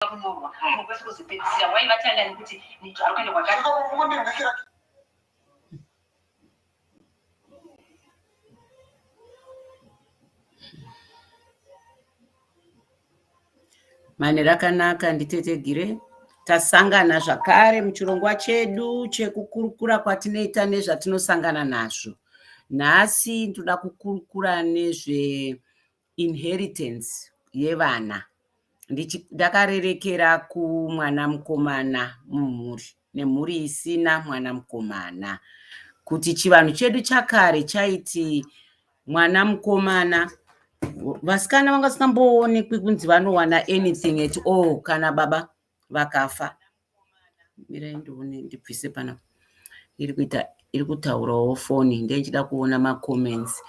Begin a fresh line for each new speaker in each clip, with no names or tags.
kunyorwa munhu kwese kuzopedzisira wai vatanga nekuti nito ari kuenda kwakati mane rakanaka nditetegire tasangana zvakare muchirongwa chedu chekukurukura kwatinoita nezvatinosangana nazvo nhasi ndoda kukurukura nezve inheritance yevana ndakarerekera kumwana mukomana mumhuri nemhuri isina mwana mukomana kuti chivanhu chedu chakare chaiti mwana mukomana vasikana vanga sikamboonekwi kunzi vanowana anything at all kana baba vakafa mirai ndione ndibvise pana iri kuita iri kutaurawo foni ndeichida kuona macomments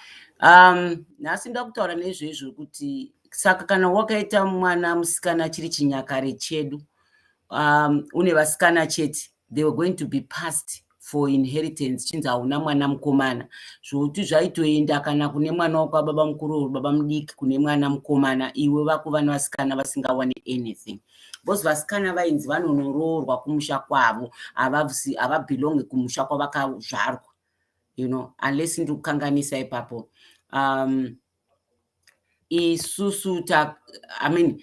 um nhasi ndoda kutaura nezveizvo kuti saka kana wakaita mwana musikana chiri chinyakare chedu um une vasikana chete they were going to be passed for inheritance chinzi hauna mwana mukomana zvokuti zvaitoenda kana kune mwana wakwababa mukuru or baba mudiki kune mwana mukomana iwe vakuva nevasikana vasingawane anything because vasikana vainzi vanonoroorwa kumusha kwavo havabelonge kumusha kwavakazvarwa you know unless ndiri kukanganisa ipapo um, isusu ta i mean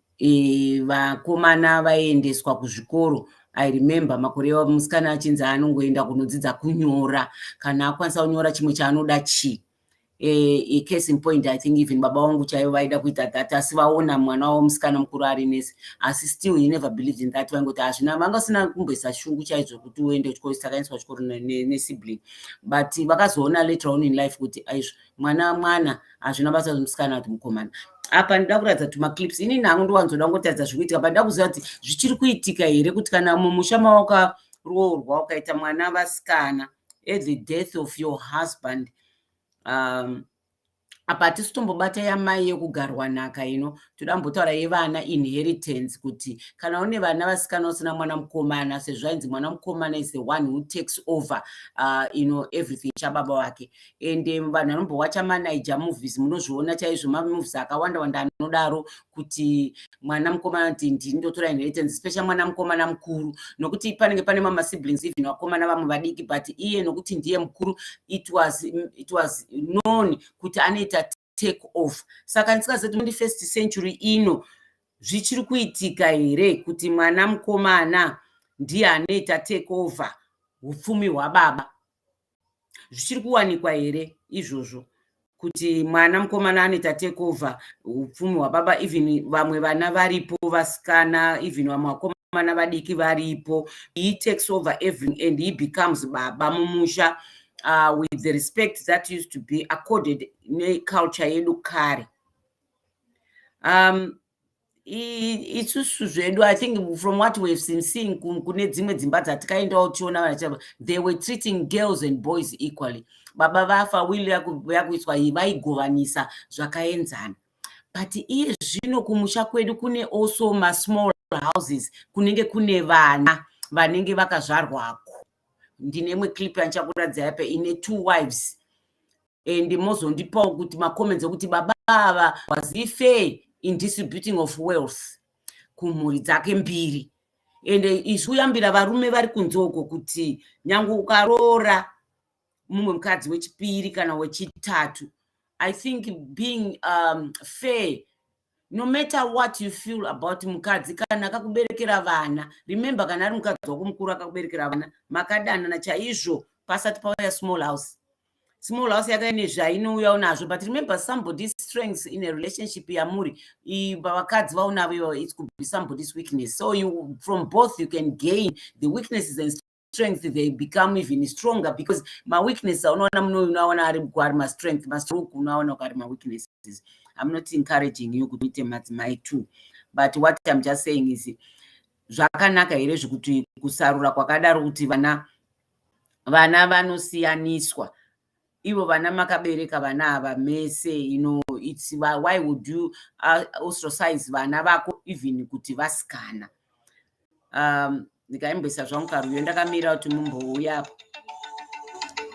eh, vakomana vaiendeswa kuzvikoro i remember makore musikana achinzi anongoenda kunodzidza kunyora kana akwanisa kunyora chimwe chaanoda chii e, case in point i think even baba wangu chaivo vaida kuita that asi vaona mwana wavo musikana mukuru ari nesi asi still he never believed in that vaingoti hazvina vanga usina kumboisa shungu chaizvo kuti uende chikoro saka aiswa chikoro nesibling but vakazoona later on in life kuti aizvo mwana mwana hazvina basa kuti musikana kuti mukomana apa ndida kuratidza kuti maclips inini hangu ndiwanzoda kungotaridza zviri kuitika but ndida kuziva kuti zvichiri kuitika here kuti kana mumusha mawakaroorwa ukaita mwana vasikana at the death of your husband um, apa hatisi tombobata yamai yekugarwa nhaka ino toda mbotaura yevana inheritance kuti kana une vana vasikana usina mwana mukomana sezvo ainzi mwana mukomana is the one who takes over uh, you know, everything chababa wake and eh, vanhu vanombowacha manaija movies munozviona chaizvo mamovies akawanda wanda anodaro kuti mwana mukomana kuti ndini ndotora inheritance special mwana mukomana mukuru nokuti panenge pane mama siblings even vakomana vamwe vadiki but iye nokuti ndiye mukuru it was, it was known kuti anoita take off saka ndisikazoti 21st century ino zvichiri kuitika here kuti mwana mukomana ndiye anoita take over upfumi hwababa zvichiri kuwanikwa here izvozvo kuti mwana mukomana anoita take over upfumi hwababa even vamwe vana varipo vasikana even vamwe vakomana vadiki varipo he takes over everything and he becomes baba mumusha uh, with the respect that used to be accorded neculture yedu kare um, isusu zvedu i think from what we have seen seeing kune dzimwe dzimba dzatikaendawo tichiona vana they were treating girls and boys equally baba vafa will yakuiswa iyi vaigovanisa zvakaenzana but iye zvino kumusha kwedu kune also masmall houses kunenge kune vana vanenge vakazvarwako ndine imwe clip yandichakuratidza yape ine two wives and mozondipawo kuti macomments okuti baba ava was he fair in distributing of wealth kumhuri dzake mbiri and isu yambira varume vari kunze uko kuti nyange ukaroora mumwe mukadzi wechipiri kana wechitatu i think being um, fair no matter what you feel about mukadzi kana akakuberekera vana remember kana ari mukadzi wako mukuru akakuberekera vana makadanana chaizvo pasati pauya small house small house yakaine zvainouyawo nazvo but remember somebody's strengths in a relationship yamuri vakadzi vaonavo its could be somebody's weakness so you from both you can gain the weaknesses and strength they become even stronger because maweakness aunoona munoyu unoaona ari bko ari mastrength mastroke unoaona ko ari maweaknesses i'm not encouraging you kuti uite madzimai two but what im just saying is zvakanaka here zvekuti kusarura kwakadaro kuti vana vana vanosiyaniswa ivo vana makabereka vana ava mese you know it's why would you uh, ostracize vana vako even kuti vasikana um ndikaimbisa zvangu karuyo ndakamira kuti mumbouya apo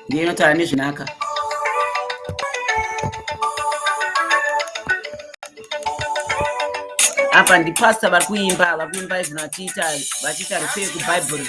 ndiye inotaura nezvinaka apa ndipastor vari kuimba vari kuimba izvino vachiita vachiita ripei kubhaibheri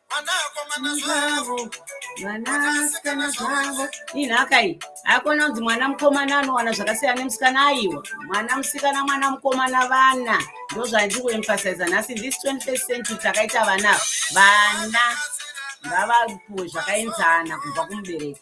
zvavo vanasikana zvavo inhaka iyi haikona kunzi mwana mukomana anowana zvakasiyana nemusikana aiwa mwana musikana mwana mukomana vana ndo zvandiri kuemphasiza nhasi this 21 century takaita vana vana ngavapuwe zvakaenzana kubva kumubereki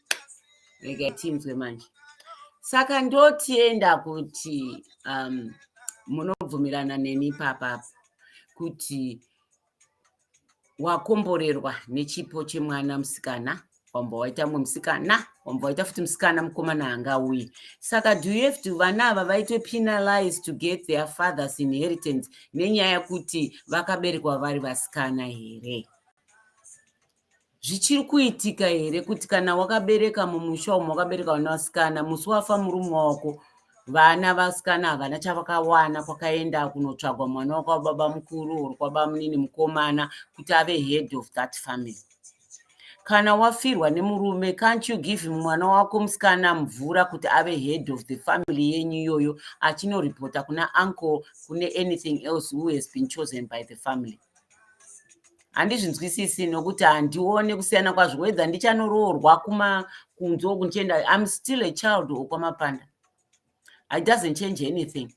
regai tinzwe manje saka ndotienda kuti um, munobvumirana neni papapo kuti wakomborerwa nechipo chemwana musikana wamba waita mumwe musikana wamba waita futi musikana mukomana anga uye saka do you have to vana ava vaitwe penalize to get their fathers inheritance nenyaya yekuti vakaberekwa vari vasikana here zvichiri kuitika here kuti kana wakabereka mumusha umo wakabereka vana vasikana musi wafa murume wako vana vasikana havana chavakawana kwakaenda kunotsvagwa mwana wako wababa mukuru or kwabamunini mukomana kuti ave head of that family kana wafirwa nemurume can't you give mwana wako musikana mvura kuti ave head of the family yenyu iyoyo achinoripota kuna uncle kune anything else who has been chosen by the family handizvinzwisisi nokuti handione kusiyana kwazvo wedza ndichanoroorwa kumakunzi oku ndichienda im still a child okwamapanda i doesn't change anything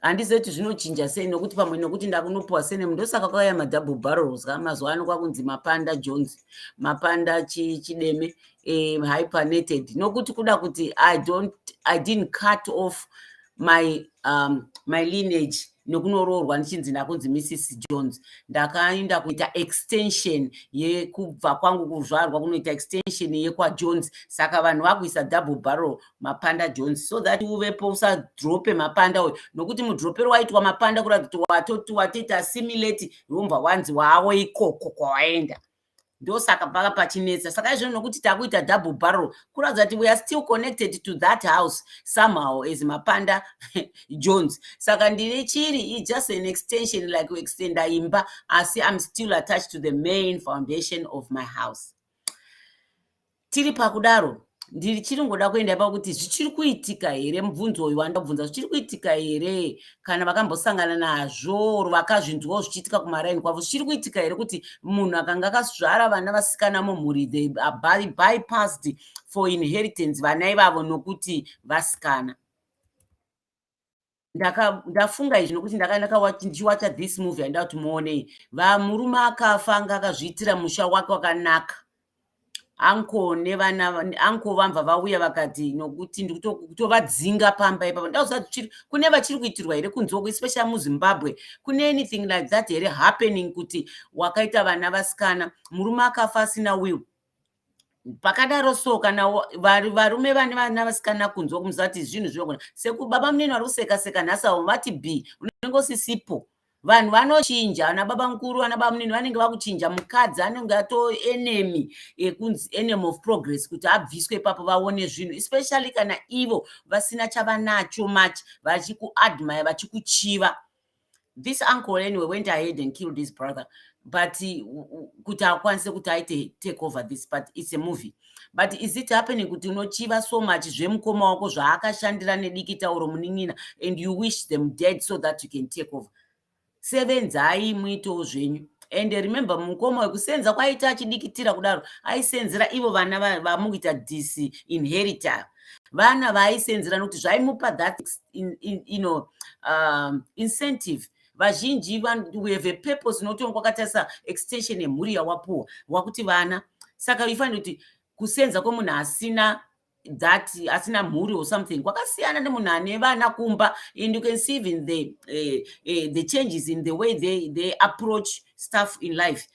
handizive kuti zvinochinja sei nokuti pamwe nokuti ndakunopiwa sene ndosaka kwakauya madouble barrels ka mazuva ano kwakunzi mapanda jones mapanda chideme um hypernated nokuti kuda kuti i don't i didn't cut off my um, my lineage nokunoroorwa ndichinzi ndakunzi mrs jones ndakaenda kuita extension yekubva kwangu kuzvarwa kunoita extension yekwajones saka vanhu vakuisa double barrel mapanda jones so that uvepo usadrope mapanda uyo nokuti mudropero waitwa mapanda kuratidza kuti watoti watoita assimilate wombva wanzi wawo ikoko kwawaenda ndosaka paka pachinetsa saka izvino nokuti takuita double barrel kuratidza kuti weare still connected to that house somehow as mapanda jones saka ndine chiri i just an extension like extenda imba asi im still attached to the main foundation of my house tiri pakudaro ndichiri ngoda kuenda pakuti zvichiri kuitika here mubvunzo uyu wandabvunza zvichiri kuitika here kana vakambosangana nazvo or vakazvinzwawo zvichiitika kumaraini kwavo zvichiri kuitika here kuti munhu akanga akazvara vana vasikana mumhuri they are bypassed for inheritance vana ivavo nokuti vasikana ndafunga izvi nokuti ndichiwacha this movie handida kuti muonei vamurume akafa anga akazviitira musha wake wakanaka anko nevana anko vamva vauya vakati nokuti ndikutovadzinga pamba ipapa ndauzati kune vachiri kuitirwa here kunzoko especially muzimbabwe kune anything like that here happening kuti wakaita vana vasikana murume akafa asina will pakadaro so kana varume vane vana vasikana kunzwa kumusati zvinhu zvinogona sekubaba munini vari kuseka seka nhasi avo vati b unenge usisipo vanhu vanochinja ana baba mukuru ana baba munini vanenge vakuchinja mukadzi anenge ato enemy ekunzi enemy of progress kuti abviswe ipapo vaone zvinhu especially kana ivo vasina chavanacho much vachikuadmire vachikuchiva this uncle anyway went ahead and killed his brother but kuti akwanise kuti aite take over this but it's a movie but is it happening kuti unochiva so much zvemukoma wako zvaakashandira nedikita oro munin'ina and you wish them dead so that you can take over sevenzai muitewo zvenyu and remember mukoma wekusenza kwaiita achidikitira kudaro aisenzera ivo vana vamukuita disinherita vana vaaisenzera nokuti zvaimupa that in, in, you know, um, incentive vazhinji we have a purpose unotiwa kwakatarisa extension yemhuri yawapuwa wakuti vana saka ifanira kuti kusenza kwemunhu asina that asina mhuri or something kwakasiyana nemunhu ane vana kumba and you can see even the, uh, uh, the changes in the way they, they approach stuff in life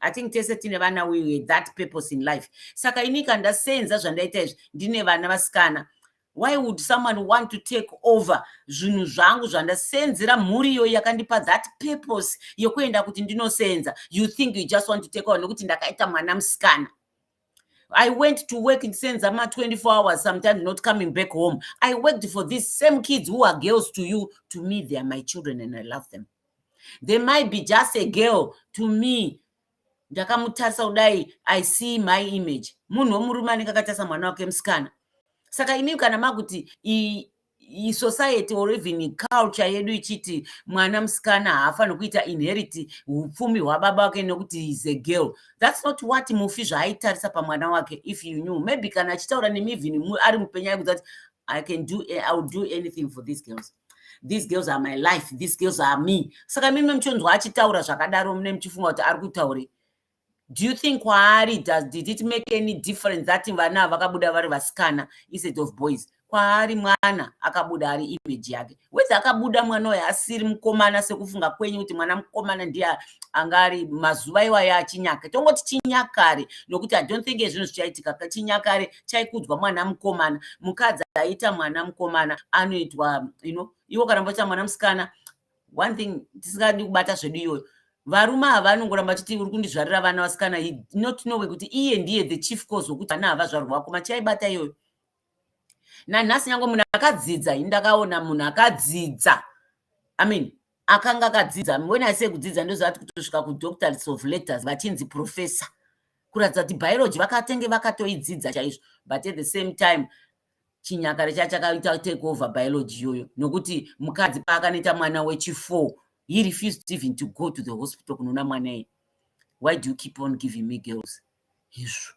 i think tese tine vana we that purpose in life saka ini ka ndasenza zvandaita izvi ndine vana vasikana why would someone want to take over zvinhu zvangu zvandasenzera mhuri iyoyi yakandipa that purpose yokuenda kuti ndinosenza you think you just want to take over nokuti ndakaita mwana musikana I went to work in Senzama 24 hours, sometimes not coming back home. I worked for these same kids who are girls to you. To me, they are my children and I love them. They might be just a girl to me. ndakamutarisa kudai i see my image munhu womurume anenge akatarisa mwana wake musikana saka imi kana makuti society or even culture yedu ichiti mwana musikana haafaniri kuita inherit upfumi hwababa wake nekuti is a girl thats not what mufi zvaaitarisa pamwana wake if you knew maybe kana achitaura nemi even ari mupenya aikuti ati i can do i will do anything for these girls these girls are my life these girls are me saka mimi muchonzwa achitaura zvakadaro mune muchifunga kuti ari kutaurei do you think kwaari does did it make any difference that vana vakabuda vari vasikana instead of boys kwaari mwana akabuda ari image yake wese akabuda mwana uyo asiri mukomana sekufunga kwenyu kuti mwana mukomana ndiye anga ari mazuva iwayo achinyaka tongoti chinyakare nokuti i don't think ezvinhu zvichaitika chinyakare chaikudzwa mwana mukomana mukadzi aita mwana mukomana anoitwa you know iwo kana mboita mwana musikana one thing tisingadi kubata zvedu iyoyo varume ava vanongoramba chiti uri kundizvarira vana vasikana not know kuti iye ndiye the chief cause wekuti vana hava zvarwa wako machiaibata iyoyo nanhasi nyange munhu akadzidza ini ndakaona munhu akadzidza i mean akanga akadzidza when i say kudzidza ndozvati kutosvika kudoctors of letters vachinzi professor kuratidza kuti biology vakatenge vakatoidzidza chaizvo but at the same time chinyakare cha chakaita take over biology iyoyo nokuti mukadzi paakanoita mwana wechifour he refused even to go to the hospital kunoona mwana iye why do you keep on giving me girls hezvo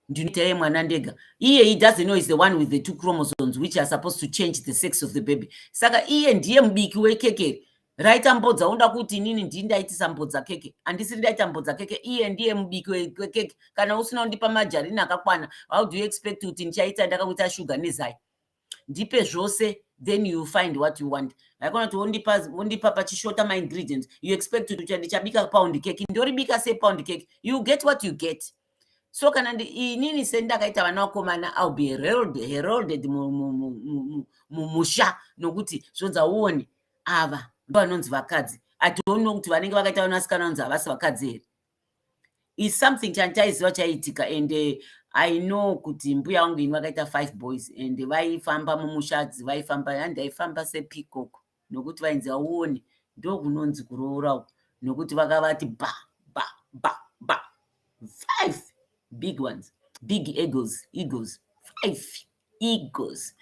ndinoita ye mwana ndega iye he doesn't know is the one with the two chromosomes which are supposed to change the sex of the baby saka iye ndiye mubiki wekekeri raita mbodza unoda kuti inini ndii ndaitisa mbodza keke andisiri ndaita mbodza keke iye ndiye mubiki wekeke kana usina undipa majarini akakwana how do you expect kuti ndichaita ndakakuita shuga nezai ndipe zvose then you find what you want haikona kuti wondipa wondipa pachishota maingredients you expect kuti ndichabika pound keke ndoribika se pound keke you get what you get so kana inini sendakaita vana vakomana ill be herolded mumusha nokuti zvonza uone ava ndovanonzi vakadzi i don't know kuti vanenge vakaita vanasikana vanonzi havasi vakadzi here is something chanditaiziva chaiitika and eh, i know kuti mbuya vangu ini vakaita five boys and vaifamba mumushadzi vaifamba handi aifamba sepikoko nokuti vainzi auone ndokunonzi kuroora uku nokuti vakavati ba ba ba ba five big ones big egos egos five egos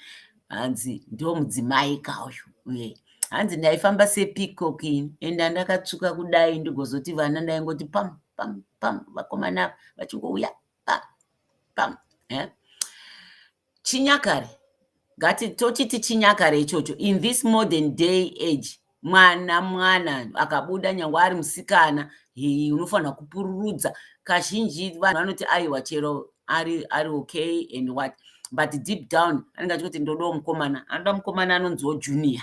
hanzi ndomudzimai ka uyu uye hanzi ndaifamba sepeacock ini enda ndakatsvuka kudai ndigozoti vana ndaingoti pam pam pam vakomana vachingouya pam pam eh? chinyakare ngati tochiti chinyakare ichocho in this modern day age mwana mwana akabuda nyangwe ari musikana unofanira kupururudza kazhinji vanhu vanoti aiwa chero ari ari okay and what but deep down anenge achikuti ndodawo mukomana anoda mukomana anonziwo junior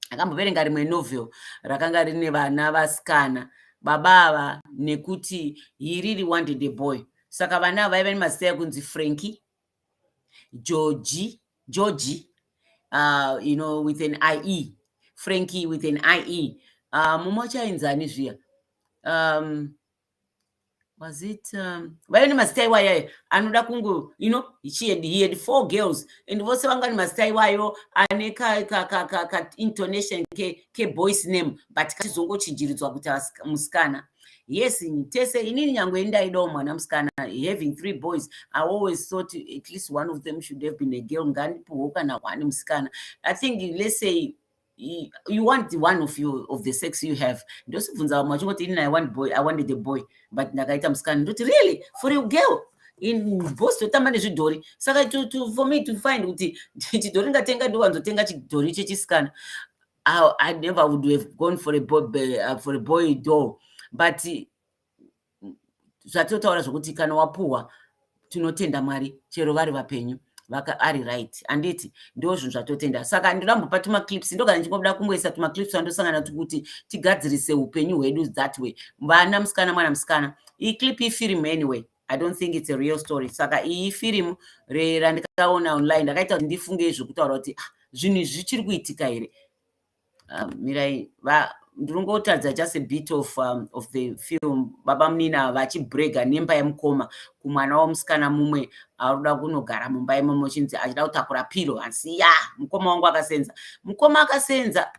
akamboverenga rimwe novel rakanga rine vana vasikana baba ava nekuti he really wanted a boy saka vana ava vaiva nemazita ekunzi franki Georgie, Georgie uh, you know, with an IE, Frankie with an IE. Uh, mumwe wacho ainzi ani zviya um, was it um, vaive nemazita iwayo anoda kungu you know she had, he had four girls and vose vanga nemazita iwayo ane kaintonation keboys name but kachizongochinjiridzwa kuti musikana ka, yes tese inini nyange ndaidawo mwana musikana having three boys i always thought at least one of them should have been a girl ngandipuhwo kana one musikana i think let's say you want the one of you of the sex you have ndosibvunza vamwe vachingoti inini i want boy i wanted a boy but ndakaita musikana ndoti really for a girl in boss totamba nezvidhori saka to, to, for me to find kuti chidhori ngatenga ndiwanzotenga chidhori chechisikana I, I never would have gone for a boy, uh, for a boy door but zvatotaura zvokuti kana wapuhwa tinotenda mwari chero vari vapenyu vaka ari right anditi ndo zvinhu zvatotenda saka ndinambopa tumaclips ndogara ndichingobuda kungoisa tumaclips twandosangana tukuti tigadzirise upenyu hwedu that way vana musikana mwana musikana iyi clip ifirimu anyway i don't think it's a real story saka iyi firimu randikaona online ndakaita kuti ndifunge izvokutaura kuti ah, zvinhu izvi zvichiri kuitika here ah, mirai ndinongotadza just a bit of, um, of the film baba munina vachibrega nemba yemukoma kumwana wamusikana mumwe aruda kunogara mumba imomo chinzi achida kutakura piro asi ya mukoma wangu akasenza mukoma akasenza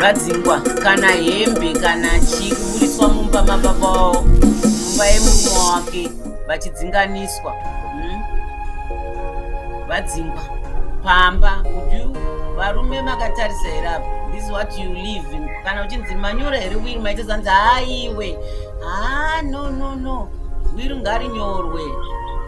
vadzingwa kana hembe kana chii kuburitswa mumba mababa wavo mumba yemurume wake vachidzinganiswa hmm? vadzingwa pamba kuti varume makatarisa here apa this what you live kana uchinzi manyora here wiri maita zanzi haiwe haa ah, no no no wiri ngarinyorwe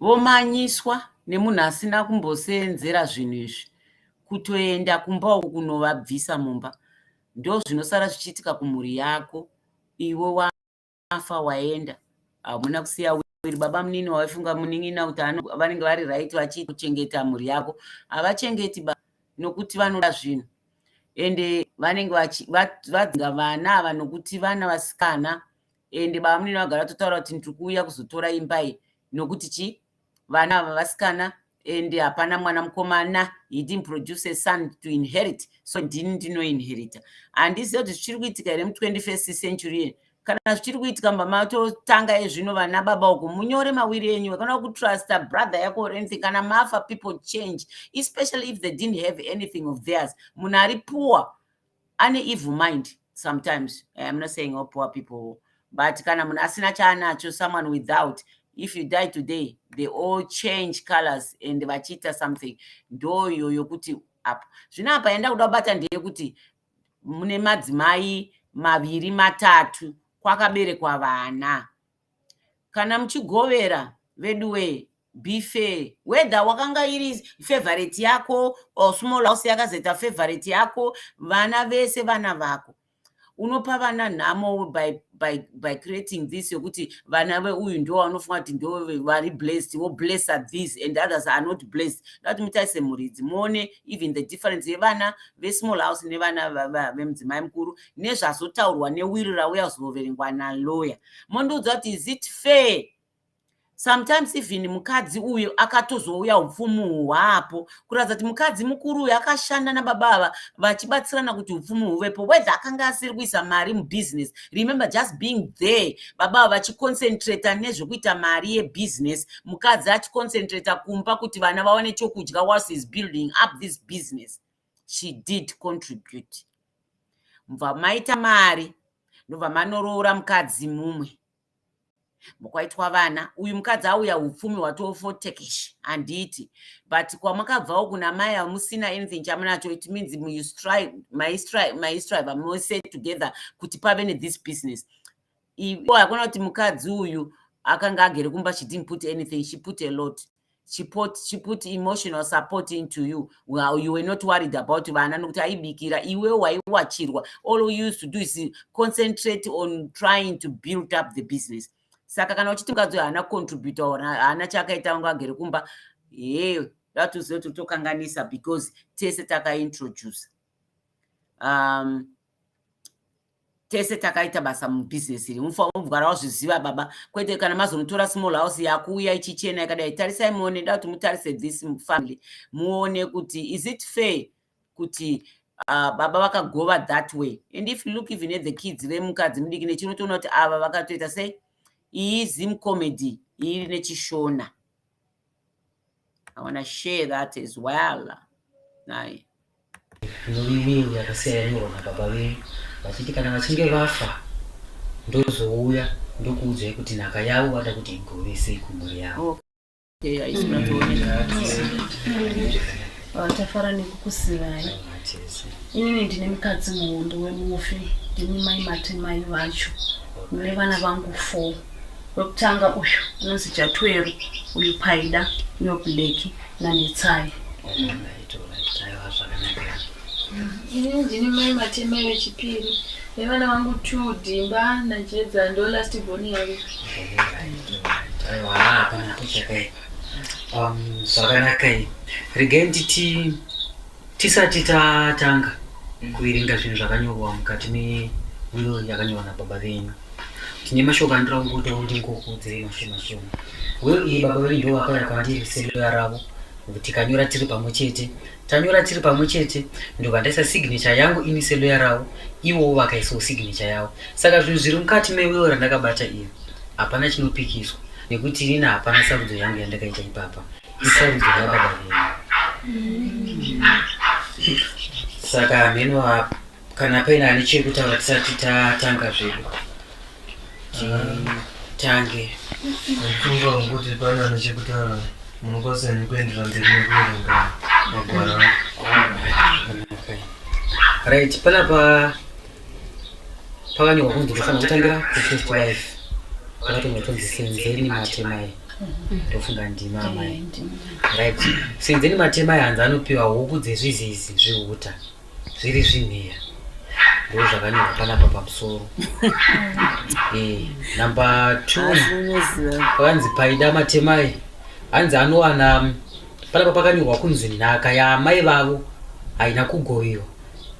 vomanyiswa nemunhu asina kumboseenzera zvinhu izvi kutoenda kumba uku kunovabvisa mumba ndozvinosara zvichiitika kumhuri yako iwe wafa waenda hamuna kusiya wiri baba munini waifunga munin'ina kuti vanenge vari right vachiita kuchengeta mhuri yako havachengeti ba nokuti vanoda zvinhu ende vanenge vadzinga vana ava nokuti vana vasikana ende baba munini vagara vatotaura kuti ndiri kuuya kuzotora imba iyi nokuti chii vana ava vasikana ende hapana mwana mukomana he didn't produce a son to inherit so ndini ndinoinherita handiziva kuti zvichiri kuitika here mu 21st century kana zvichiri kuitika mba matotanga ezvino vana baba uko munyore mawiri enyu akanoda kutrusta brother yako or anything kana mafa people change especially if they didn't have anything of theirs munhu ari poor ane evil mind sometimes eh, i'm not saying all poor people but kana munhu asina chaanacho someone without if you die today they all change colors and vachiita something ndo iyo yokuti apa zvino apa yanda kuda kubata ndeyekuti mune madzimai maviri matatu kwakaberekwa vana kana muchigovera veduwee be fair whether wakanga iri favorite yako or small house yakazoita favorite yako vana vese vana vako unopa vana nhamo by by, by creating this yokuti vana veuyu ndo vanofunga kuti ndo vari blessed wo blesser this and others are not blessed ndati mutarise mhuri idzi muone even the difference yevana vesmall house nevana vemudzimai mukuru nezvazotaurwa newiri rauya kuzoverengwa naloya mondiudza kuti is it fair sometimes even mukadzi uyo akatozouya upfumi hwapo kuratidza kuti mukadzi mukuru uyo akashanda nababa ava vachibatsirana kuti upfumi huvepo whether akanga asiri kuisa mari mubusiness remember just being there baba ava vachiconcentrata nezvekuita mari yebusiness mukadzi achiconcentrata kumba kuti vana vawane chokudya was is building up this business she did contribute mubva maita mari ndobva manoroora mukadzi mumwe mukwaitwa vana uyu mukadzi auya upfumi hwatofotekeshi handiti but kwamakabvawo kuna mai amusina anything chamunacho it means maistrive mose together kuti pave nethis business ivo hakuna kuti mukadzi uyu akanga agere kumba she didn't put anything she put a lot she put, she put emotional support into you well, you were not worried about vana nokuti aibikira iwe waiwachirwa all you used to do is concentrate on trying to build up the business saka kana uchiti mukadzi uyo haana contributa or haana chaakaita vanga agere kumba hee yatoziva kuti tokanganisa because tese takaintroduce um, tese takaita basa mubusiness iri mufanira kugara wazviziva baba kwete kana mazonotora small house yakuuya ichichena yakadai tarisai muone da kuti mutarise this family muone kuti is it fair kuti uh, baba vakagova that way and if you look even at the kids vemukadzi mudiki nechinotoona kuti ava vakatoita sei iyi zim comedy iri nechishona I want to share that as well naye
ndomiwiri yakasiya yanyorwa nababa venyu vachiti kana vachinge vafa ndozouya ndokuudzai kuti nhaka yavo vada kuti igove sei kumhuri yavo
tafara nekukusivai inini ndine mukadzi muhondo wemufi ndimi mai matemai vacho mune vana vangu four Wekutanga uyu anonzi Jatweru, uyu Paida, uyo Black naNetsai. Ini ndini mai Matemai vechipiri nevana vangu two Dhimba naJedza ndo last born yavo. Aiwa, hapana kucheka.
Um, zvakanaka. Regai nditi Tisati tatanga kuverenga zvinhu zvakanyorwa mukati me will yakanyorwa nababa venyu tine mashoko andira kungotaura kuti ndingokuudzirei mashoma shoma will iyi baba venyu ndo vakauya kwandiri seloya ravo tikanyora tiri pamwe chete tanyora tiri pamwe chete ndobva ndaisa signature yangu ini seloya ravo ivowo vakaisawo signature yavo saka zvinhu zviri mukati me will randakabata iri hapana chinopikiswa nekuti inini hapana sarudzo yangu yandakaita ipapa isarudzo yababa saka hameno apa kana paine ane chekutaura tisati tatanga zvedu tange ndifunga
kuti pane ane chekutaura munokwanisa ni kuendera mberi nekuverenga magwara
right panapa pakanyorwa kunzi ndofanira kutangira kufirst wife pakatonga tonzi senzeni matemai ndofunga ndima amai right senzeni matemai hanzi anopiwa huku dzezvizizi zvihuta zviri zvinheya ndo zvakanyorwa panapa pamusoro eh, number two pakanzi paida matemai hanzi anowana panapa pakanyorwa kunzi nhaka yaamai vavo haina kugoviwa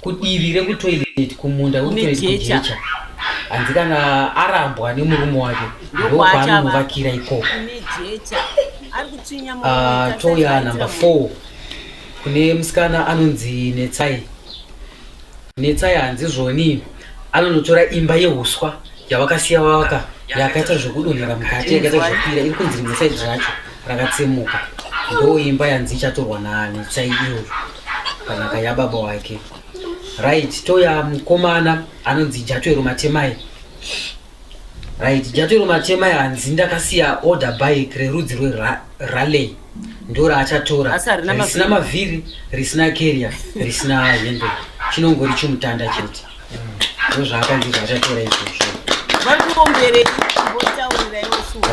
kudivi rekutoilet kumunda kutoikujecha hanzi kana arambwa nemurume wake ndokwaanonovakira ikoko ah, toya number four kune musikana anonzi netsai netsai hanzi zvoni anonotora imba yehuswa yavakasiya vaka yakaita zvekudonhera mukati yakaita zvakwira iri kunzi rimwe saidi racho rakatsemuka ndo imba yanzi ichatorwa nanetsai iyoyo panhaka yababa wake right toya mukomana anonzi jatwero matemai right jatwero matemai hanzi ndakasiya order bike rerudzi rweralley ndo raachatora risina
mavhiri
risina carrier risina hendo chinongori chimutanda chete ndozvaakanzi zvaachatora izvozvo varikuomberei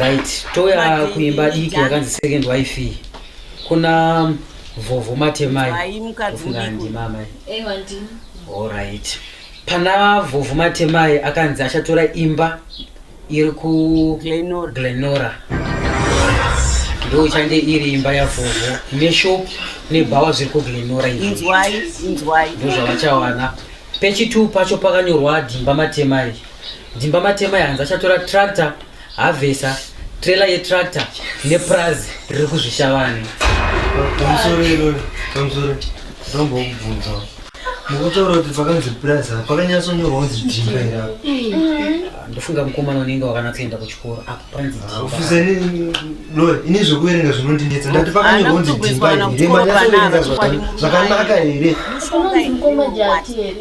right toya
kuimba diki yakanzi second wife kuna vhovho matemai
ndimamai
allright
pana vhovho matemai akanzi achatora imba iri kuglenora glenora ndochange iri imba yavhovho neshop nebhawa zviri kuglenora izvinzwai inzwai
ndozvavachawana
pechitwo pacho pakanyorwa dhimba matemai dhimba matemai hanzi achatora tractor havhesa trailer yetractor nepurazi riri kuzvishavani pamusoro irori
pamusoro ndombokubvunzawo Mukutaura kuti pakanzi plaza pakanyatsonyorwa kunzi dhimba iri apa. Ah, Ndofunga mukomana
unenge wakanatsoenda kuchikoro apa panzi dhimba. Ofisa ini
Lori, ini zvekuverenga zvinondinetsa. Ndati pakanyorwa kunzi dhimba iri. Manyatsoverenga zvaka- zvakanaka here? Unonzi mukoma jati here?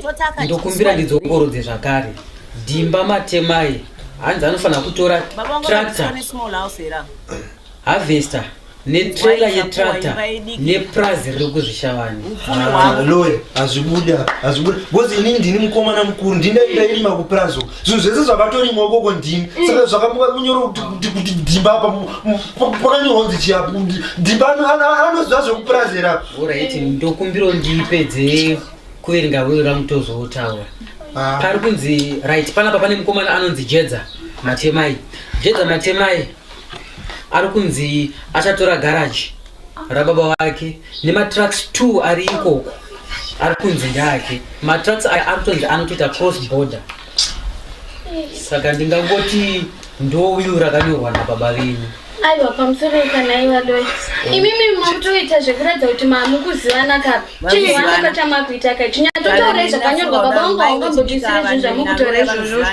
Ndokumbira ndidzokorodze zvakare. Dhimba matemai. Hanzi anofanira kutora tractor harvester netrela yetractor nepurazi riri kuzvishavani lori
hazvibude hazvibude bcause inini ndini mukomana mukuru ndindaindairima kupurazi zvinhu zvese zvakatorimwa ukoko ndini mm. saka zvakamuka kunyoro kuti dhimba apa pakanyorwa kunzi chiya dhimba anoziva zvekupurazi era orit ndokumbiro
ndipedze kuverenga wiro ramutozotaura ah. pari kunzi right panapa pane mukomana anonzi jedza matemai jedza matemai ari kunzi achatora garaji rababa vake nematrucks two ari ikoko ari kunzi ndake matrucks aya ari kutonzi anotoita cross border saka ndingangoti ndouyu rakanyorwa nababa venyu aiwa pamusoro
kana iva doi oh. imimi makutoita zvekuratidza kuti mamukuzivana kapi chii vanakata makuita kai chinyatotaura izvakanyorwa baba vangu haungambobvisire zvinhu zvamukutora izvozvo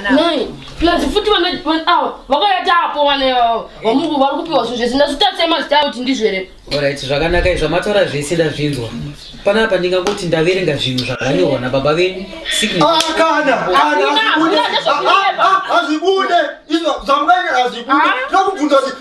plus
futi awa vakayata apo vana ivavo vamungu vari kupiwa zvinhu zvese ndazvitatse mazita avo kuti ndizvo here orit zvakanaka
izvo matora zvese ndazvinzwa panapa ndingangoti ndaverenga zvinhu zvakanyorwa nababa venyu siknazvibude ah, ah, ah, izvo zvamukaenga
azvibude ndakubvunza kuti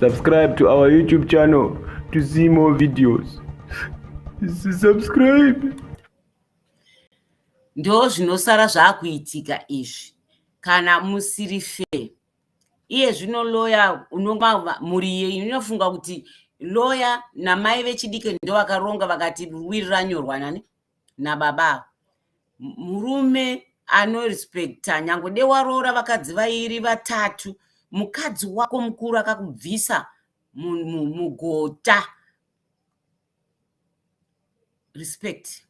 Subscribe to our YouTube channel to see more videos. Subscribe.
Ndo zvinosara zvakuitika izvi kana musiri fair. Iye zvino lawyer unonga mhuri iye inofunga kuti lawyer namai vechidiki ndovakaronga vakati wiri ranyorwa nani nababa ava murume anorespecta nyange de waroora vakadzi vairi vatatu mukadzi wako mukuru akakubvisa mugota respect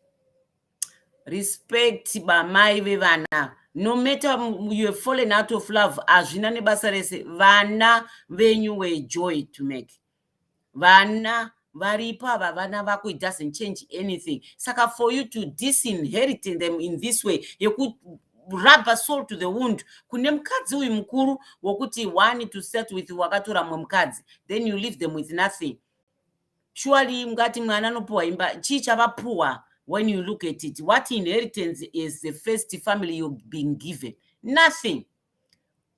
respect bamai vevana no matter you have fallen out of love hazvina nebasa rese vana venyu were joy to make vana varipo ava vana vako it doesn't change anything saka for you to disinherit them in this way yekurubber soul to the wound kune mukadzi uyu mukuru wokuti one to set with wakatora mumwe mukadzi then you leave them with nothing surely ngati mwana anopuwa imba chii chavapuwa when you look at it what inheritance is the first family you've been given nothing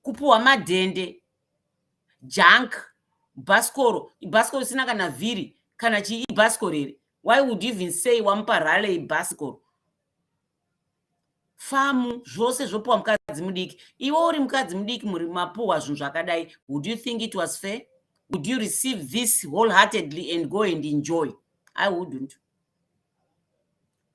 kupuwa madhende junk bhasikoro ibhasikoro isina kana vhiri kana chii ibhasikoro here why would you even say wamupa rale ibhasikoro famu zvose zvopiwa mukadzi mudiki iwe uri mukadzi mudiki muri mapuhwa zvinhu zvakadai would you think it was fair would you receive this wholeheartedly and go and enjoy i wouldn't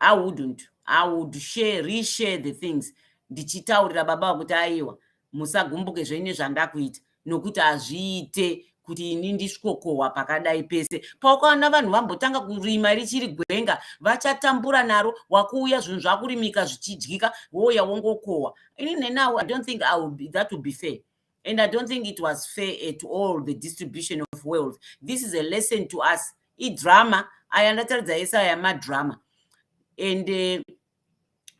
i wouldn't i would share reshare the things ndichitaurira baba vakuti aiwa musagumbuke zvenyu nezvandakuita nokuti hazviite kuti ini ndisvikokohwa pakadai pese paukaona vanhu vambotanga kurima richiri gwenga vachatambura naro wakuuya zvinhu zvakurimika zvichidyika wouya wongokohwa ini nenawo i don't think that would be fair and i don't think it was fair at all the distribution of wealth this is a lesson to us idrama aya ndataridza ese aya madrama and uh,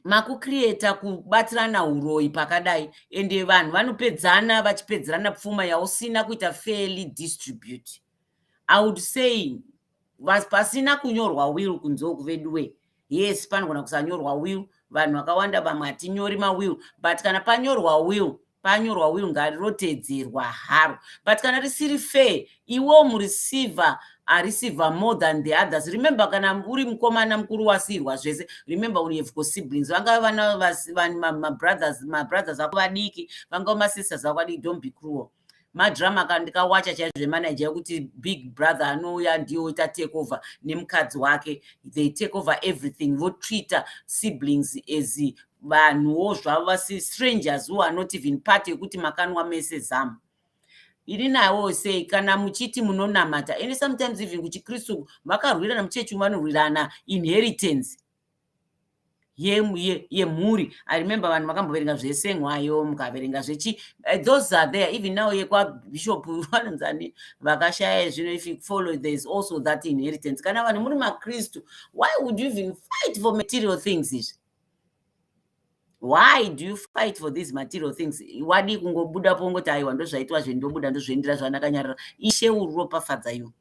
makucreata kubatirana uroyi pakadai and eh, vanhu vanopedzana vachipedzerana pfuma yausina kuita fairly distribute i would say pasina kunyorwa will kunze uku veduwe yes panogona kusanyorwa will vanhu vakawanda vamwe hatinyori mawill but kana panyorwa will panyorwa will ngarirotedzerwa haro but kana risiri fair iwo mureceiver areceiver more than the others remember kana uri mukomana mukuru wasiirwa zvese remember when you have got siblings vangave vana mabrothers mabrothers ako vadiki vangave masisters ako vadiki don't be cruel madrama ka ndikawacha chaizvo emanager yekuti big brother anouya ndiyo oita take over nemukadzi wake they take over everything votreater siblings as vanhuwo zvavo vasi strangers who are not even part yekuti makanwa mese zamu iri nawo sei kana muchiti munonamata and sometimes even kuchikristu vakarwirana muchechi vanorwirana inheritance yemhuri ye, ye i remember vanhu vakamboverenga zvesengwayo mukaverenga zvechi eh, those are there even now yekwabishop vanonzani vakashaya zvino if you follow there is also that inheritance kana vanhu muri makristu why would you even fight for material things izvi why do you fight for these material things wadii kungobuda pongoti aiwa ndozvaitwa zve ndobuda ndozviendera zvanakanyarara ishe uropafadza you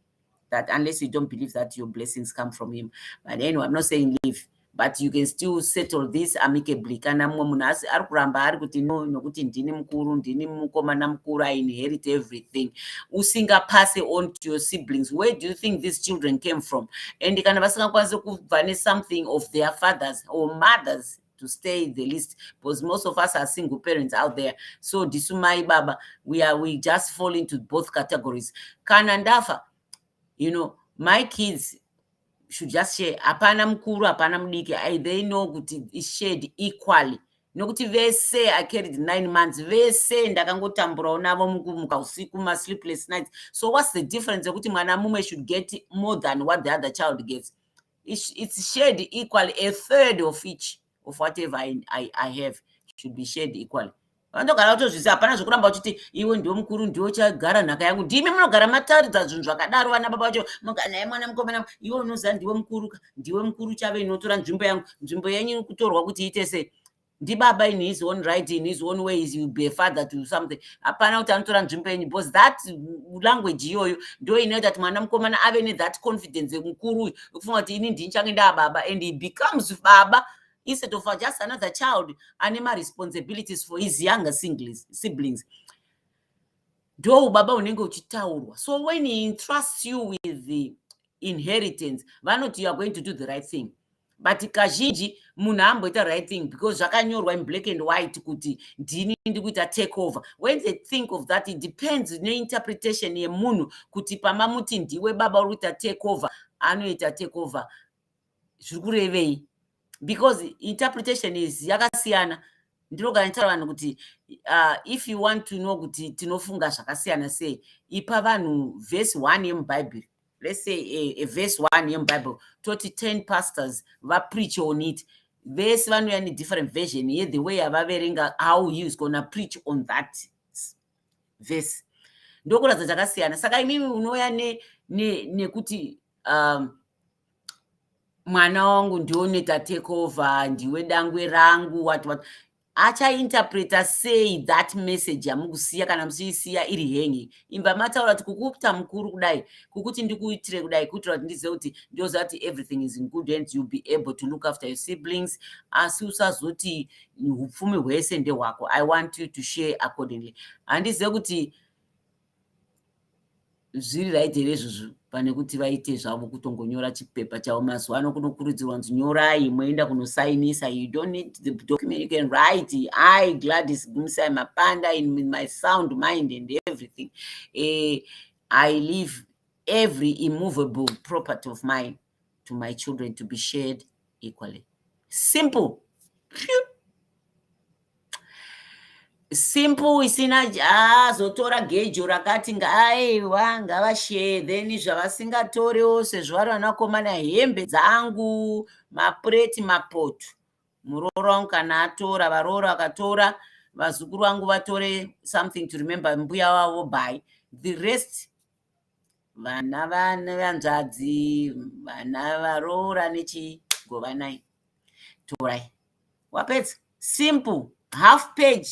that unless you don't believe that your blessings come from him but anyway i'm not saying leave but you can still settle this amicably kana mumwe munhu asi ari kuramba ari kuti no nokuti ndini mukuru ndini mukomana mukuru i inherit everything usingapase on to your siblings where do you think these children came from and kana vasingakwanisi kubva nesomething of their fathers or mothers to stay the least because most of us are single parents out there so ndisu mai baba we are we just fall into both categories kana ndafa you know my kids should just share hapana mukuru hapana mudiki i they know kuti is shared equally nokuti vese i carried nine months vese ndakangotamburawo navo mukumuka usiku masleepless nights so what's the difference yekuti mwana mumwe should get more than what the other child gets it's, it's shared equally a third of each of whatever I, I, I have should be shared equally vanogara kutozvisi hapana zvekuramba uchiti iwe ndiwo mukuru ndiwo chagara nhaka yangu ndimi munogara mataridza zvinhu zvakadaro vana baba vacho muganaye mwana mukomana iwe unoziva ndiwe mukuru ka ndiwe mukuru chave inotora nzvimbo yangu nzvimbo yenyu iri kutorwa kuti iite sei ndibaba in his own right in his own way is be a father to something hapana kuti anotora nzvimbo yenyu because that language iyoyo ndo inoita kuti mwana mukomana ave nethat confidence mukuru uyu ukufunga kuti ini ndinichange ndaa baba and he becomes baba instead of just another child ane maresponsibilities for his younger singles, siblings ndo ubaba unenge uchitaurwa so when he entrusts you with the inheritance vanoti youare going to do the right thing but kazhinji munhu amboita right thing because zvakanyorwa in black and white kuti ndini ndi kuita take over when they think of that it depends neinterpretation yemunhu kuti pamamuti ndiwe baba uri kuita take over anoita take over zviri kurevei because interpretation is yakasiyana ndinoga nitaura vanhu kuti uh, if you want to know kuti tinofunga zvakasiyana sei ipa vanhu vhesi one yemubhaibheri let's say a, a verse one yemubible toti ten pastors vapreach on it vese vanouya nedifferent version ye the way yavaverenga how he is gonna preach on that verse ndokuratidza chakasiyana saka imimi unouya nekuti ne, ne um, mwana wangu ndiwo neta takeover ndiwe dangwe rangu wat wat achainterpreta sei that message yamukusiya kana muchiisiya iri hengi imba mataura kuti kukuita mukuru kudai kukuti ndikuitire kudai kuitira kuti ndizive kuti ndoziva kuti everything is in good hands youll be able to look after your siblings asi usazoti upfumi hwese ndehwako i want you to share accordingly handizive kuti zviri right here izvozvo pane kuti vaite zvavo kutongonyora chipepa chavo mazuva ano kunokurudzirwa nzi nyorai moenda kunosainisa you don't need the document you can write i gladys gumisai mapanda in my sound mind and everything uh, i live every immovable property of mine to my children to be shared equally simple simple isina azotora gejo rakati ngaaiwa ngavashee then zvavasingatoriwo sezvo vari vanakomana hembe dzangu mapureti mapoto muroora wangu kana atora varoora vakatora vazukuru vangu vatore something to remember mbuya wavo by the rest vana vane vanzvadzi vana varoora nechigovanai torai wapedza simple half page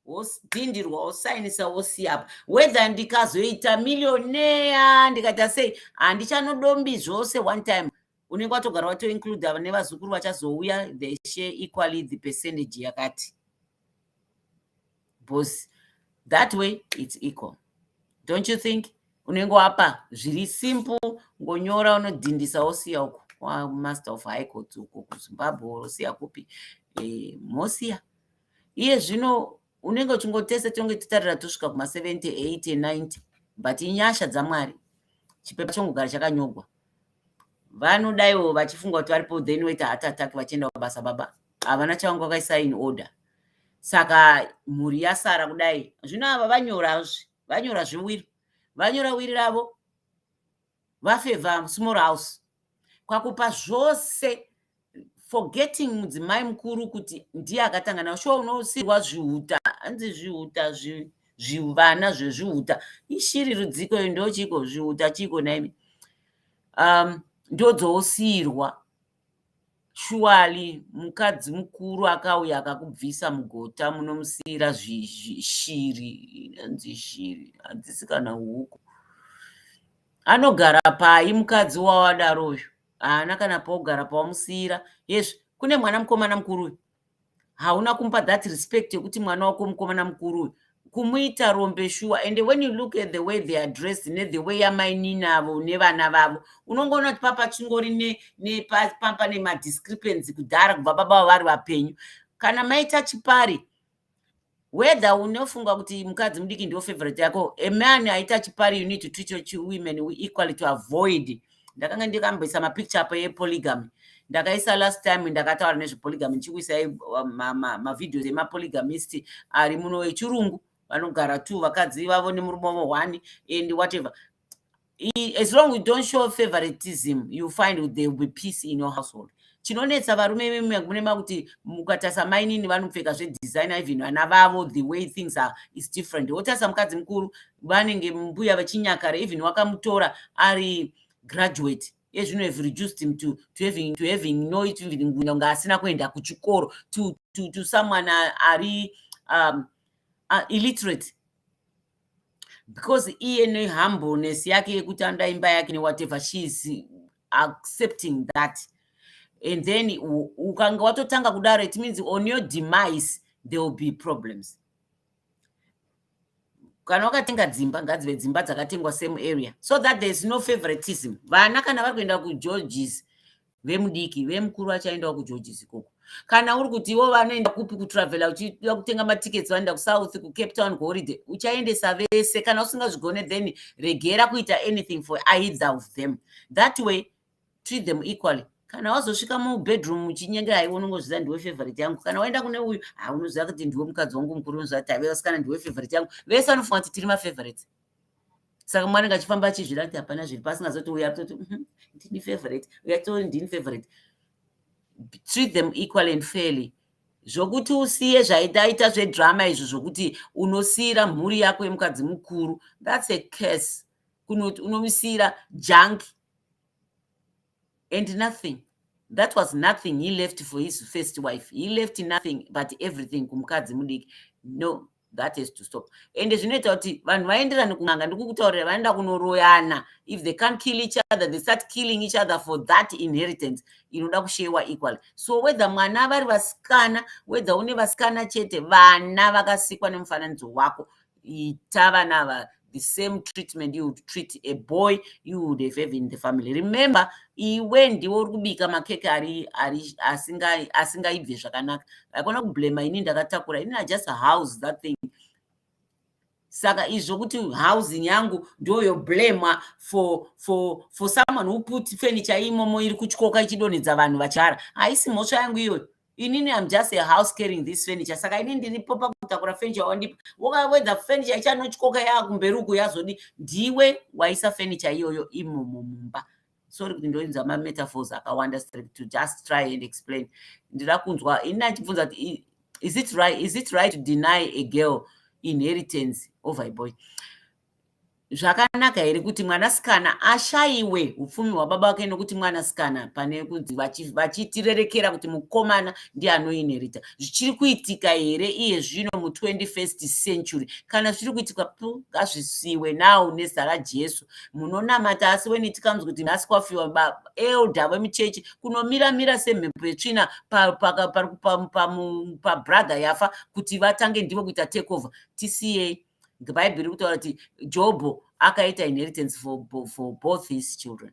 wodhindirwa wosainisa wosiyapa whether ndikazoita millioneya ndikaita sei handichanodombi zvose one time unenge watogara watoincluda nevazukuru vachazouya the share equally the percentage yakati boss that way it's equal don't you think unenge wapa zviri simple ngonyora unodhindisa wosiya uko wamaster of high court uko kuzimbabwe wosiya kupi e, mosiya iye zvino unenge uchingotese tonge titarira tosvika kuma70 80 90 but inyasha dzamwari chipepa chongogara chakanyogwa vanodaiwo vachifunga kuti varipo then waita heart attack vachienda kubasa baba havana chavanga vakaisa in order saka mhuri yasara kudai zvino ava vanyora zve vanyora zvewiri vanyora wiri ravo vafevha small house kwakupa zvose forgetting mudzimai mukuru kuti ndiye akatanga navo shuwa unosirwa zvihuta hanzi zvihuta zvi, zvivana zvezvihuta ishiri rudziko yo ndochiko zvihuta chiko naimi um, ndodzousirwa Surely mukadzi mukuru akauya akakubvisa mugota munomusiyira shiri inonzi shiri hadzisi kana huku anogara pai mukadzi wawadaro uyu haana kana paugara pawamusiyira yes kune mwana mukomana mukuru uyu hauna kumupa that respect yekuti mwana wako mukomana mukuru uyu kumuita rombe shuwa and when you look at the way they are dressed nethe way yamainini avo nevana vavo unongoona kuti papa chingori nepampa nemadiscrepancy kudhara kubva baba vari vapenyu kana maita chipari whether unofunga kuti mukadzi mudiki ndiwo favorite yako a man aita chipari you need to treat your two women equally to avoid ndakanga ndikamboisa mapicture apo epolygamy ndakaisa last time ndakataura nezvepolygamy ndichikuisai uh, mavideos emapolygamist ari muno echirungu vanogara two vakadzi vavo nemurume wavo one and whatever as long you don't show favoritism you find there will be peace in your household chinonetsa varume vemune makuti mukatarisa mainini vanopfeka zvedesigner even vana vavo the way things are is different wotarisa mukadzi mukuru vanenge mbuya vachinyakara even wakamutora ari graduate ezvino have reduced him to, to having, to having no inga asina kuenda kuchikoro to, to, to someone ari um, uh, illiterate because iye nehumbleness yake yekuti anoda imba yake newhatever she is accepting that and then ukanga watotanga kudaro it means on your demise there will be problems kana wakatenga dzimba ngadzive dzimba dzakatengwa same area so that there is no favoritism vana kana vari kuenda kugeorges vemudiki vemukuru vachaendawo kugeorges ikoko kana uri kuti ivo vanoenda kupi kutravela uchida kutenga matickets vanoenda kusouth kucape town kuholiday uchaendesa vese kana usingazvigone then regera kuita anything for either of them that way treat them equally kana wazosvika mubedroom muchinyengera haiwe unongozviziva ndiwe favorite yangu kana waenda kune uyu haunoziva kuti ndiwe mukadzi wangu mukuru unoziva kuti haive vasikana ndiwe favorite yangu vese vanofunga kuti tiri mafavorites saka mwana ngachifamba achizvira kuti hapana zviri pasi ngazoti uya toti mhm, ndini favorite uya tori ndini favorite treat them equal and fairly zvokuti usiye zvaitaita zvedrama izvo zvokuti unosiyira mhuri yako yemukadzi mukuru thats a case kunoti unomusiyira junk and nothing that was nothing he left for his first wife he left nothing but everything kumukadzi mudiki no that has to stop ende zvinoita kuti vanhu vaenderane kun'anga ndikukutaurira vanoenda kunoroyana if they can't kill each other they start killing each other for that inheritance inoda kushewa equally so whether mwana vari vasikana whether une vasikana chete vana vakasikwa nemufananidzo wako ita vana ava the same treatment you would treat a boy you would have have in the family remember iwe ndiwe uri kubika makeke ari ari asingaibve zvakanaka haikona kublema ini ndakatakura ini i just house that thing saka izvo kuti housing yangu ndoyo blamwa for for for someone who put furniture imomo iri kutyoka ichidonhedza vanhu vachara haisi mhosva yangu iyoyo inini am just a house carrying this furniture saka ini ndiripo pakutakura furniture wandipa wokawedza furniture ichanotyoka yaakumberi uku yazodi ndiwe waisa furniture iyoyo imomo mumba sorry kuti ndoinzwa mametaphors akawanda to just try and explain ndira kunzwa ini achibvunza kuti is it right, is it right to deny a girl inheritance over a boy zvakanaka here kuti mwanasikana ashayiwe upfumi hwababa wake nokuti mwanasikana pane kunzi vachitirerekera kuti mukomana ndiye anoinherita zvichiri kuitika here iye zvino mu21st century kana zviri kuitika pu ngazvisiwe now nezita rajesu munonamata asi weni tikanzi kuti nhasi kwafiwa baba elda vemuchechi kunomira mira semhepo yetsvina pabrother yafa kuti vatange ndivo kuita takeover tisiyei bhaibheri riri kutaura kuti jobho akaita inheritance for, for both his children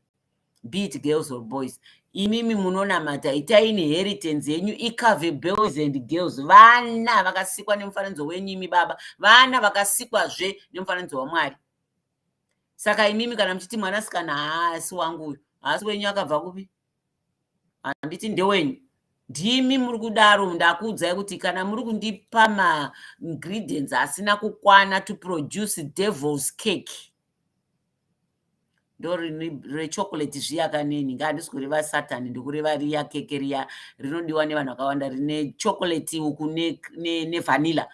be it girls or boys imimi munonamata itai inheritance yenyu icove boys and girls vana vakasikwa nemufananidzo wenyu imi baba vana vakasikwazve nemufananidzo wamwari saka imimi kana muchiti mwanasikana haasi wangu uyu haasi wenyu akabva kupi handiti ndewenyu ndimi muri kudaro ndakuudzai kuti kana muri kundipa maingredients asina kukwana to produce devils cake ndorechocolate zviya kaneni nga handisi kureva satan ndikureva riya keke riya rinodiwa nevanhu vakawanda rine chocolate uku nevanilla ne, ne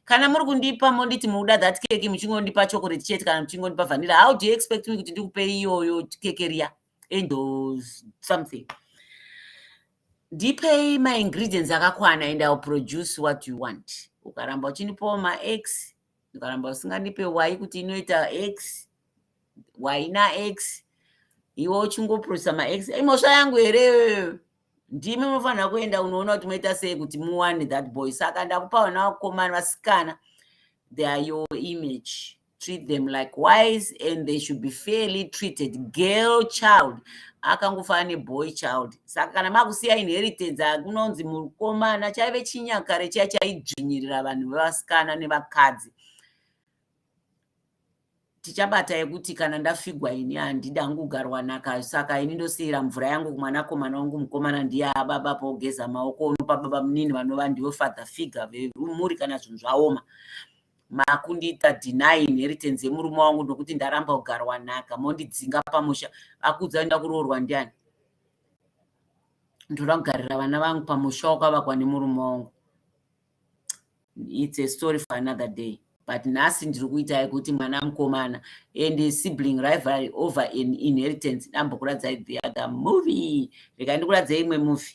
kana muri kundipa monditi mukuda that keke muchingondipa chocolate chete kana muchingondipa vanilla how do you expect me kuti ndikupe iyoyo keke riya angels something ndipei maingredients akakwana and ill produce what you want ukaramba uchindipawo max ukaramba usingandipe y kuti inoita x y nax iwe uchingoprodusa max imhosva yangu here ndimi munofanira kuenda unoona kuti moita sei kuti muwane that boy saka ndakupa vana vakomana vasikana they are your image treat them likewise and they should be fairly treated girl child akangofanana neboy child saka kana makusiya inheritance akunonzi mukomana chaive chinyakare chiya chaidzvinyirira vanhu vevasikana nevakadzi tichabata yekuti kana ndafigwa ini handidi hangu kugarwa naka saka ini ndosiyira mvura yangu kumwanakomana wangu mukomana ndiye ababa pogeza maoko unopa baba munini vanova ndivo father figure vemuri kana zvinhu zvaoma makundiita deny inheritance yemurume wangu nokuti ndaramba kugarwa nhaka mondidzinga pamusha akuudza enda kuroorwa ndiani ndoda kugarira vana vangu pamusha wakavakwa nemurume wangu it's a story for another day but nhasi ndiri kuita yekuti mwana mukomana and sibling rivalry over an inheritance dambokuradzai the other movie rega ndikuradzei imwe movie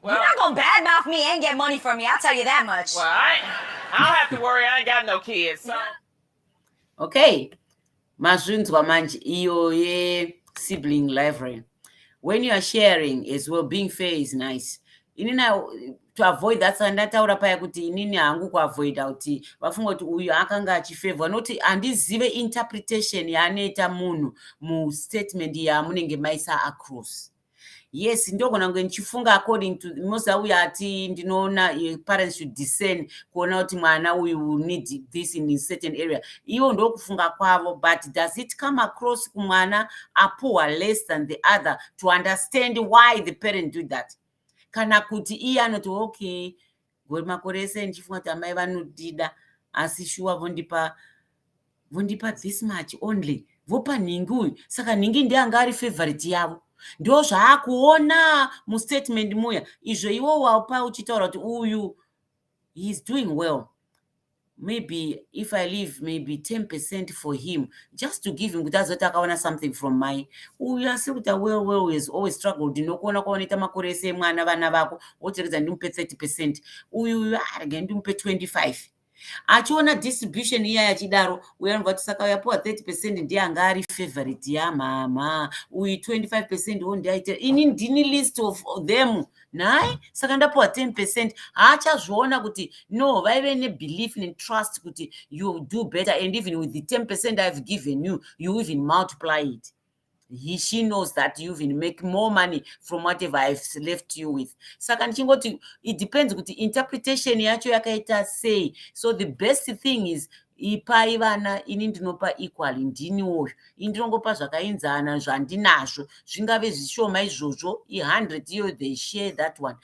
Well, You're not gonna
badmouth
me and get money from me. I'll tell
you that much. Well, I, I don't have to worry. I
ain't got no kids. So. Okay. Mazvinzwa manje iyo ye sibling library. When you are sharing as well, being fair is nice. Inini to avoid that ndataura paya kuti inini hangu kuavoida kuti vafunga kuti uyu akanga achifevhwa noti handizive interpretation yaanoita munhu mustatement yaamunenge maisa across yes ndogona kunge ndichifunga according to most auya ati ndinoona eh, parents should discern kuona kuti mwana uyu need this in certain area ivo ndokufunga kwavo but does it come across kumwana apuhwa less than the other to understand why the parent do that kana kuti iye anoti okay makore ese ndichifunga kuti amai vanodida asi shuwa vondipa vondipa this much only vopa nhingi uyu saka nhingi ndianga ari favorite yavo ndo zvaakuona mustatement muya izvo iwo waupa uchitaura kuti uyu heis doing well maybe if i leave maybe 10 percent for him just to give him kuti azoti akaona something from mai uyu asiri kuti awell well has always struggled ndinokuona kwaunoita makore ese emwana vana vako woteredza ndimupe 30 percent uyu uyu arege ndimupe 25 achiona distribution iya yachidaro uyo anobva kuti saka uyapiwa 30 percent ndiye anga ari favorite yamama uyu 25 percent wo ndiaite ini ndini list of them naye saka ndapiwa 10 percent haachazviona kuti no vaive nebelief netrust kuti you do better and even with the 10 percent ihave given you you even multiply it he she knows that you even make more money from whatever ihave left you with saka ndichingoti it depends kuti interpretation yacho yakaita sei so the best thing is ipai vana ini ndinopa equally ndini woyo ini ndinongopa zvakainzana zvandinazvo zvingave zvishoma izvozvo i100 iyo they share that one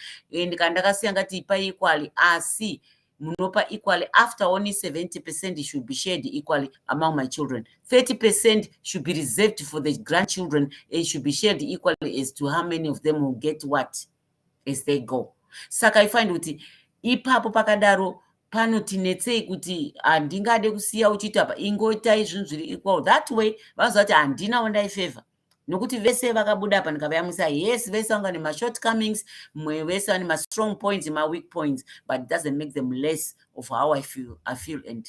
and kana ndakasiya ngati ipai equally asi munopa equally after only 70 percent should be shared equally among my children 30 percent should be reserved for the grandchildren and should be shared equally as to how many of them will get what as they go saka ifind kuti ipapo pakadaro panoti netsei kuti handingade kusiya uchiita pa ingoitai zvinhu zviri equal that way vanoziva kuti handina wandaifavor nokuti vese vakabuda apa ndikavayamwisa yes vese vanga nemashort comings mwe vese vane mastrong points maweak points but doesn't make them less of how i feel, I feel and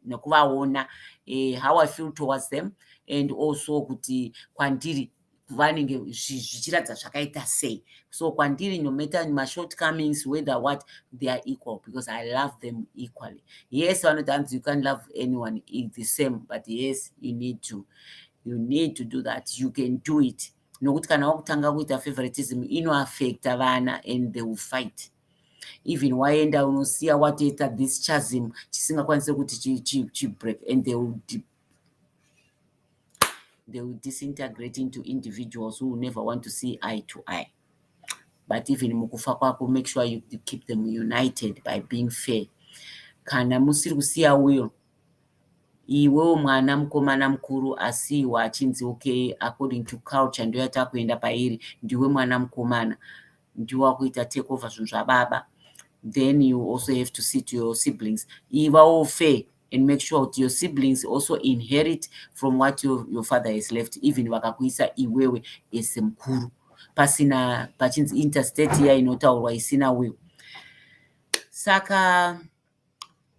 nekuvaona eh, how i feel towards them and also kuti kwandiri vanenge zvichiratidza zvakaita sei so kwandiri no matter mashort comings whether what they are equal because i love them equally yes vanoti hanzi you can love anyone is the same but yes you need to you need to do that you can do it nokuti kana wakutanga kuita favoritism inoaffecta vana and they will fight even waenda unosiya watoita this chasm chisingakwanise kuti chibreak and they will, they will disintegrate into individuals who will never want to see eye to eye but even mukufa kwako make sure you keep them united by being fair kana musiri kusiya uyo iwewo mwana mukomana mukuru asiiwa achinzi okay according to culture ndoyatakuenda pairi ndiwe mwana mukomana ndiwe wakuita take over zvinhu zvababa then you also have to see to your siblings ivawo fair and make sure kuti your siblings also inherit from what your, your father has left even vakakuisa iwewe as mukuru pasina pachinzi interstate iya inotaurwa isina will saka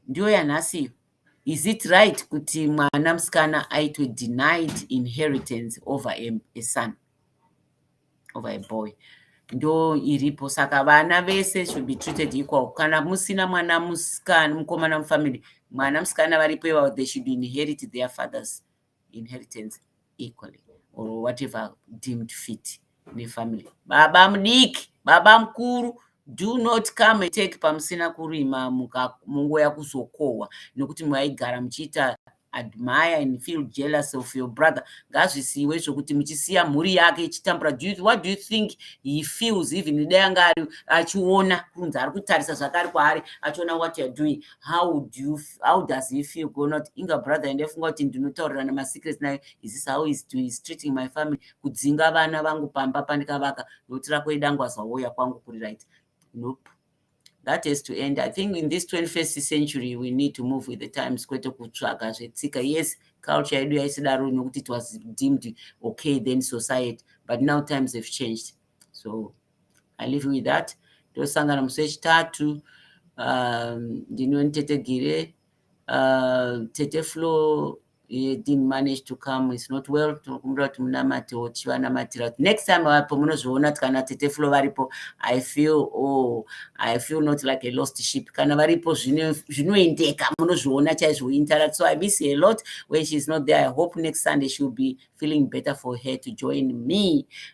ndiyo yanhasi iyo is it right kuti mwana musikana aitwe denied inheritance over a, a son over a boy ndo iripo saka vana vese should be treated equal kana musina mwana musikana mukomana mufamily mwana musikana varipo ivavo they should inherit their fathers inheritance equally or whatever deemed fit nefamily baba mudiki baba mukuru do not come and take pamusina kurima munguva yakuzokohwa nokuti maigara muchiita admire and feel jealous of your brother ngazvisiiwe zvokuti muchisiya mhuri yake ichitambura do you, what do you think he feels even dai anga ari achiona kunzi ari kutarisa zvake ari kwaari achiona what youare doing how do you, how does he feel gonot inga brother and afunga kuti ndinotaurirana masecrets nayo is this how is doing is treating my family kudzinga vana vangu pamba pandikavaka ndokuti rako idangwazwa woya kwangu kuri right nope that has to end i think in this 21st century we need to move with the times kwete kutsvaga zvetsika yes culture yedu yaisidaro nokuti it was deemed okay then society but now times have changed so i live with that tosangana musi wechitatu um, ndinoni tete gire uh, tete flow he didn't manage to come it's not well tinokumbira kuti munamate tichivanamatira next time vapo munozviona kuti kana tete flo varipo i feel oh, i feel not like a lost ship kana varipo zvinoendeka munozviona chaizvo interact so i miss a lot when she's not there i hope next sunday she'll be feeling better for her to join me